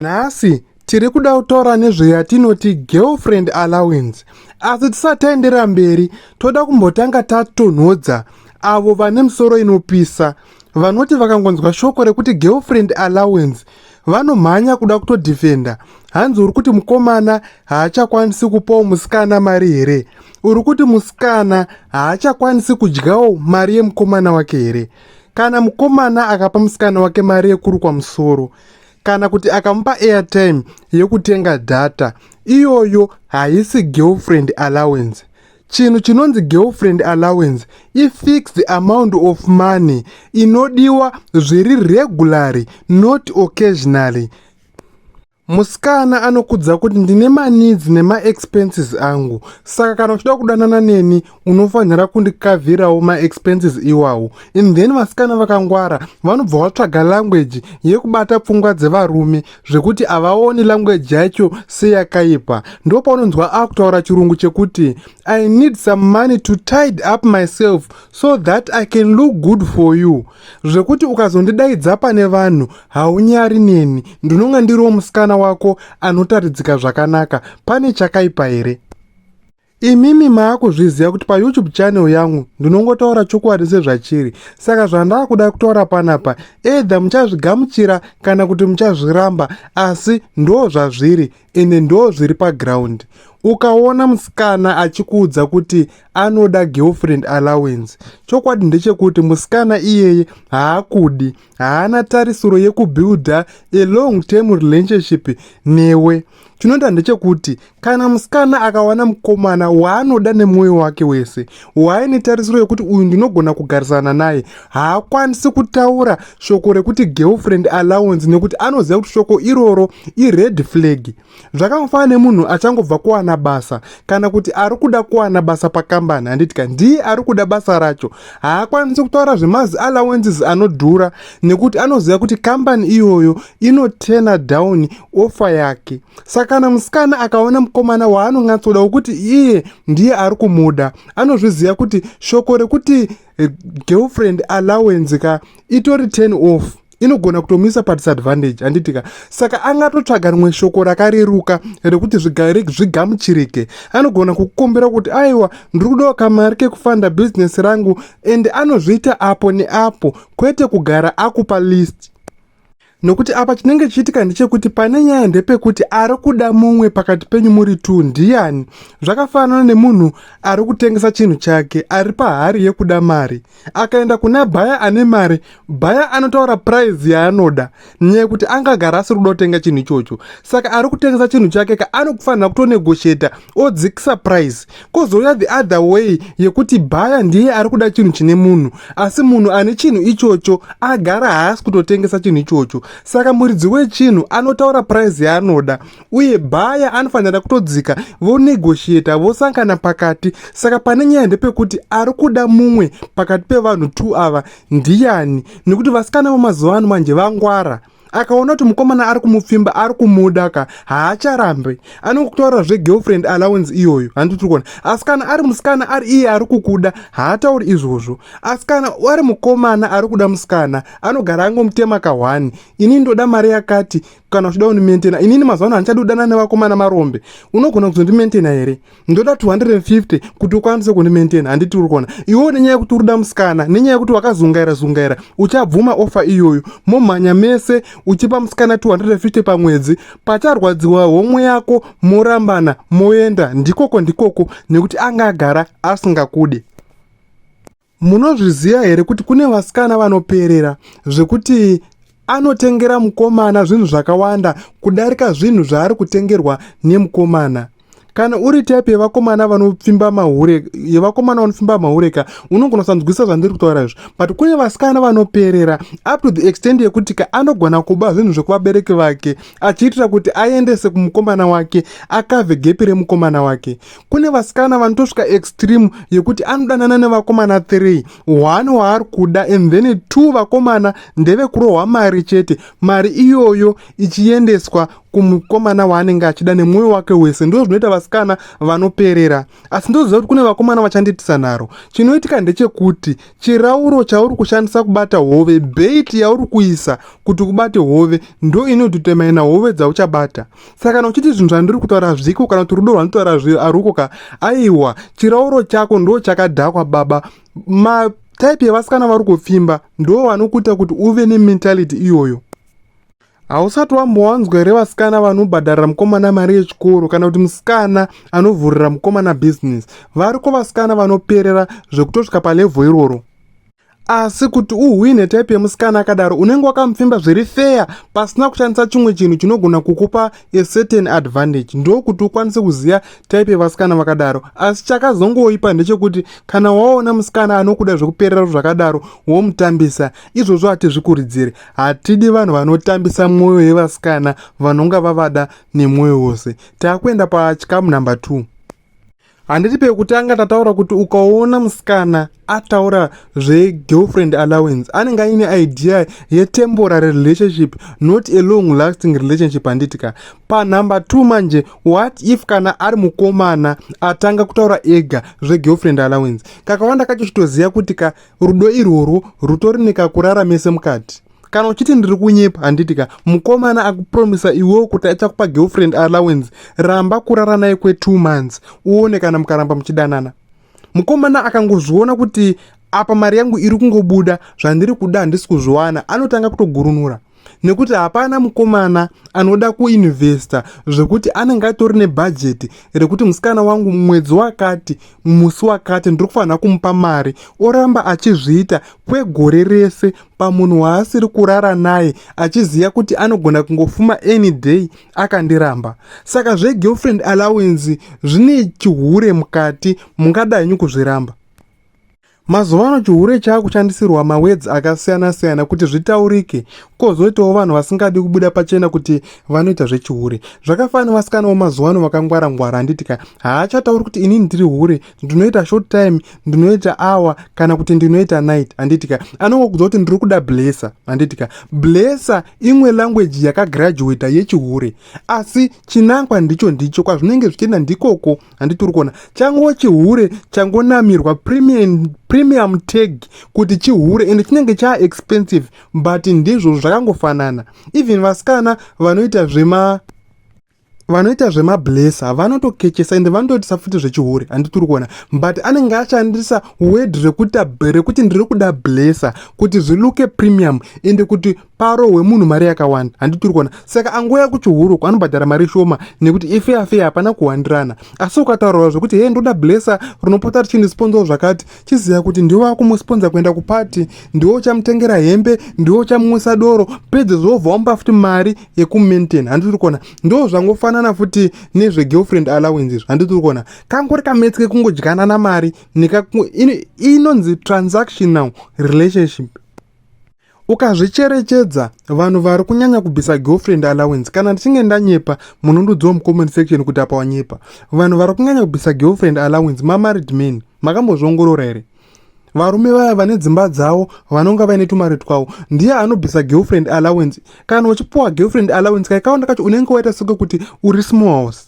Nhasi tiri kuda kutaura nezveyatinoti girlfriend allowance asi tisati taendera mberi toda kumbotanga tatonhodza avo vane misoro inopisa vanoti vakangonzwa shoko rekuti girlfriend allowance vanomhanya kuda kutodhifenda hanzi uri kuti mukomana haachakwanisi kupawo musikana mari here uri kuti musikana haachakwanisi kudyawo mari yemukomana wake here kana mukomana akapa musikana wake mari yekurukwa musoro kana kuti akamupa airtime yekutenga data iyoyo haisi girlfriend allowance chinhu chinonzi girlfriend allowance ifixed amount of money inodiwa zviri regularly not occasionally musikana anokudza kuti ndine manidzi nemaexpenses angu saka kana uchida kudanana neni unofanira kundikavhirawo maexpenses iwawo and then vasikana vakangwara vanobva vatsvaga language yekubata pfungwa dzevarume zvekuti havaoni language yacho seyakaipa ndo paunonzwa akutaura chirungu chekuti i need some money to tide up myself so that i can look good for you zvekuti ukazondidaidza pane vanhu haunyari neni ndinonga ndiriwo musikana wako anotaridzika zvakanaka pane chakaipa here Imimi maakuzviziva kuti paYoutube channel yangu ndinongotaura chokwadi sezvachiri. Saka zvandakuda kutaura panapa either muchazvigamuchira kana kuti muchazviramba asi ndo zvazviri ende ndo zviri paground. Ukaona musikana achikuudza kuti anoda girlfriend allowance, chokwadi ndechekuti musikana iyeye haakudi, haana tarisiro yekubuilder a long term relationship newe. chinoita ndechekuti kana musikana akawana mukomana waanoda nemwoyo wake wese waaine tarisiro yekuti uyu ndinogona kugarisana naye haakwanisi kutaura shoko rekuti girlfriend allowance nekuti anoziva kuti shoko iroro ired flag zvakangofanana nemunhu achangobva kuwana basa kana kuti ari kuda kuwana basa pakambani handiti ka ndiye ari kuda basa racho haakwanisi kutaura zvemazi allowances anodhura nekuti anoziva kuti kambani iyoyo inotena down ofa yake saka kana musikana akaona mukomana waanonyatsoda wokuti iye ndiye ari kumuda anozviziva kuti shoko rekuti eh, girlfriend allowance ka itori ten off inogona kutomisa padisadvantage handiti ka saka angatotsvaga rimwe shoko rakareruka rekuti zvigamuchirike anogona kukumbira kuti aiwa ndiri kudawo kamari kekufanda bhizinesi rangu and anozviita apo neapo kwete kugara akupa list nokuti apa chinenge chiitika ndechekuti pane nyaya ndepekuti ari kuda mumwe pakati penyu muri t ndiyani zvakafanana nemunhu ari kutengesa chinhu chake ari pahari yekuda mari akaenda kuna bhaya ane mari bhaya anotaura prize yaanoda nyaya yekuti angagara asiri kuda kutenga chinhu ichocho saka ari kutengesa chinhu chake ka anokufanira kutonegosheta odzikisa prize kozouya the other way yekuti bhaya ndiye ari kuda chinhu chine munhu asi munhu ane chinhu ichocho agara haasi kutotengesa chinhu ichocho saka muridzi wechinhu anotaura prize yaanoda uye baya anofanira kutodzika vonegoshiyeta vosangana pakati saka pane nyaya ndepekuti ari kuda mumwe pakati pevanhu t ava ndiyani nekuti vasikana vamazuva ano manje vangwara akaona kuti mukomana ari kumupfimba ari kumuda ka haacharambe anenge kutaura zvegirlfriend allowance iyoyo handi tiri kuona asi kana ari musikana ari iye ari kukuda haatauri izvozvo asi kana ari mukomana ari kuda musikana anogara angomutema kahwani ini ndoda mari yakati kana uchida undimentena inini mazuva ano handichadi kudana nevakomana marombe unogona kuzondimentena here ndoda 250 kuti ukwanise kundimentena handiti uri kuona iwewo nenyaya yekuti uri da musikana nenyaya yekuti wakazungaira zungaira uchabvuma ofa iyoyo momhanya mese uchipa musikana 250 pamwedzi pacharwadziwa homwe yako morambana moenda ndikoko ndikoko nekuti anga agara asingakude Munozviziva here kuti kune vasikana vanoperera zvekuti anotengera mukomana zvinhu zvakawanda kudarika zvinhu zvaari kutengerwa nemukomana kana uri type yevakomana vanopfimba mahure yevakomana vanopfimba mahure ka unogona kusanzwisa zvandiri kutaura izvo but kune vasikana vanoperera up to the extent yekuti ka anogona kuba zvinhu zvekuvabereki vake achiitira kuti aendese kumukomana wake akave gepi remukomana wake kune vasikana vanotosvika extreme yekuti anodanana nevakomana 3 one waari kuda and then two vakomana ndevekurohwa mari chete mari iyoyo ichiendeswa kumukomana waanenge achida nemwoyo wake wese ndo zvinoita vasikana vanoperera asi ndoziva kuti kune vakomana vachandiitisa nharo chinoitika ndechekuti chirauro chauri kushandisa kubata hove beit yauri kuisa kuti ubate hove ndo inototemaina hove dzauchabata saka kana uchiti zvinhu zvandiri kutaura hazviko kana kuti rudo rwanditaura haruko ka aiwa chirauro chako ndo chakadhakwa baba ma type yevasikana vari kupfimba ndo vanokuita kuti uve nementality iyoyo hausati wambowanzwa here vasikana vanobhadharira mukomana mari yechikoro kana kuti musikana anovhurira mukomana bhizinesi variko vasikana vanoperera zvekutosvika palevho iroro asi kuti uhwine type yemusikana akadaro unenge wakamupfimba zviri feya pasina kushandisa chimwe chinhu chinogona kukupa a certain advantage ndokuti ukwanise kuziva type yevasikana vakadaro asi chakazongoipa ndechekuti kana waona musikana anokuda zvekuperera zvakadaro womutambisa izvozvo hatizvikuridziri hatidi vanhu vanotambisa mwoyo yevasikana vanonga vavada nemwoyo wose taakuenda pachikamu number two handiti pekutanga tataura kuti ukaona musikana ataura zvegirlfriend allowance anenge aine idea yetemporary relationship not a long lasting relationship handiti ka panumber two manje what if kana ari mukomana atanga kutaura ega zvegirlfriend allowance kakawanda kacho chitoziva kuti ka rudo irworwo rutori nekakurara mese mukati kana uchiti ndiri kunyepa handiti ka mukomana akupromisa iwewo kuti achakupa girlfriend allowance ramba kurara naye kwe two months uone kana mukaramba muchidanana mukomana akangozviona kuti apa mari yangu iri kungobuda zvandiri kuda handisi kuzviwana anotanga kutogurunura nekuti hapana mukomana anoda kuinvesta zvekuti anenge atori nebhajeti rekuti musikana wangu mwedzi wakati musi wakati ndiri kufanira kumupa mari oramba achizviita kwegore rese pamunhu waasiri kurara naye achiziva kuti anogona kungofuma any day akandiramba saka zvegirlfriend allowance zvine chihure mukati mungadanyi kuzviramba mazuva ano chihure chaakushandisirwa mawedz akasiyana-siyana kuti zvitaurike kozoitawo vanhu vasingadi kubuda pachena kuti vanoita zvechihure zvakafanira vasikanawo mazuva ano vakangwara-ngwara handitika haachatauri kuti inini ndiri hure ndinoita short time ndinoita hour kana kuti ndinoita night handiti ka anongokudza kuti ndiri kuda blesser handiti ka blesser imwe language yakagraduata yechihure asi chinangwa ndicho ndicho kwazvinenge zvichienda ndikoko handiti uri kuona chango chihure changonamirwa premium, premium tag kuti chihure ende chinenge chaa expensive but ndizvo zvakangofanana even vasikana vanoita zvema vanoita zvemablesa vanotokechesa ende vanotoitisa futi zvechihure handitiri kuona but anenge ashandisa word rekuti rekuti ndiri kuda blesa kuti zviluke premium ende kuti paro hwemunhu mari yakawanda handitiri kuona saka angouya kuchihuruku anobhadhara mari shoma nekuti ife afei hapana kuwandirana asi ukataurawo zvekuti hee ndoda blesa rinopota richindisponzawo zvakati chiziva kuti ndiwo akumusponsor kuenda kupati ndiwo uchamutengera hembe ndiwo uchamumwisa doro pedze zvobva wampa futi mari yekumaintain handi tiri kuona ndo zvangofanana futi nezvegirlfriend allowance izvo handi tiri kuona kangori kametsi kekungodyanana mari inonzi transactional relationship ukazvicherechedza vanhu vari kunyanya kubvisa girlfriend allowance kana ndichinge ndanyepa munondodziwa mucomment section kuti apa wanyepa vanhu vari kunyanya kubvisa girlfriend allowance mamarid man makambozviongorora here varume vaya vane dzimba dzavo vanonga vaine tumari twavo ndiye anobvisa girlfriend allowance kana uchipuwa girlfriend allowance kaikaonda kacho unenge waita soke kuti uri small house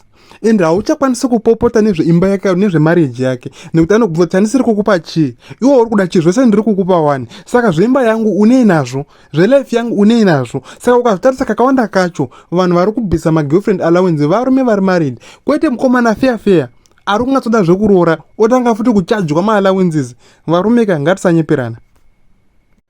and hauchakwanisi kupopota nezveimba yake nezvemarriage yake nekuti anobvunza kuti handisiri kukupa chii iwo uri kuda chii zvese ndiri kukupa wani saka zveimba yangu unei nazvo zvelife yangu unei nazvo saka ukazvitarisa kakawanda kacho vanhu vari kubvisa magirlfriend allowance varume vari married kwete mukomana feya feya ari kungatsoda zvekuroora otanga futi kuchajwa maalawences varume ka ngatisanyeperana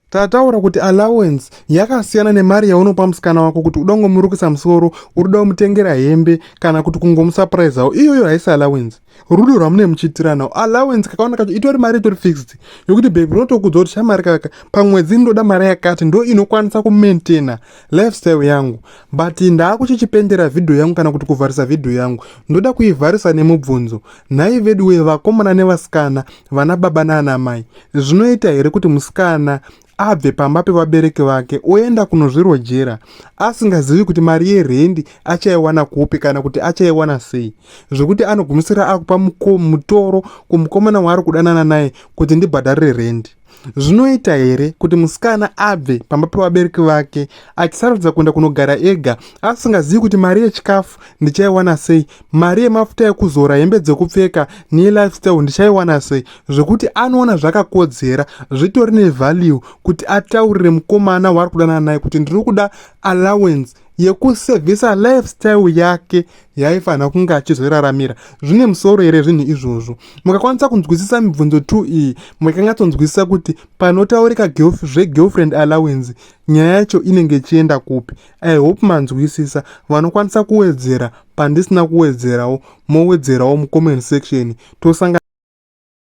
Tataura kuti allowance yakasiyana nemari yaunopa musikana wako kuti uda kungomurukisa musoro, uri kuda kumutengera hembe kana kuti kungomusapuraizawo. Iyoyo haisi allowance. Rudo rwamune muchiitirana. Allowance kakawanda kacho itori mari itori fixed yokuti babe rinotokuudza kuti shamari kaka pamwedzi ndoda mari yakati ndo inokwanisa kumaintaina lifestyle yangu but ndaakuchichipendera vhidhiyo yangu kana kuti kuvharisa vhidhiyo yangu ndoda kuivharisa nemubvunzo. Nhai veduwe vakomana nevasikana vana baba naana mai zvinoita here kuti musikana abve pamba pevabereki vake oenda kunozvirojera asingazivi kuti mari yerendi achaiwana kupi kana kuti achaiwana sei zvekuti anogumisira akupa mutoro kumukomana waari kudanana naye kuti ndibhadharire rendi zvinoita here kuti musikana abve pamba pevabereki vake achisarudza kuenda kunogara ega asingazivi kuti mari yechikafu ndichaiwana sei mari yemafuta ekuzora hembe dzekupfeka nelifestyle ndichaiwana sei zvekuti anoona zvakakodzera zvitori nevalue kuti ataurire mukomana waari kudanana naye kuti ndiri kuda allowance yekusevhisa lifestyle yake yaifanira kunge achizoraramira zvine musoro here zvinhu izvozvo mukakwanisa kunzwisisa mibvunzo t iyi mukangatsonzwisisa kuti panotaurika zvegirlfriend allowance nyaya yacho inenge ichienda kupi i hope manzwisisa vanokwanisa kuwedzera pandisina kuwedzerawo mowedzerawo mucomment section tosanga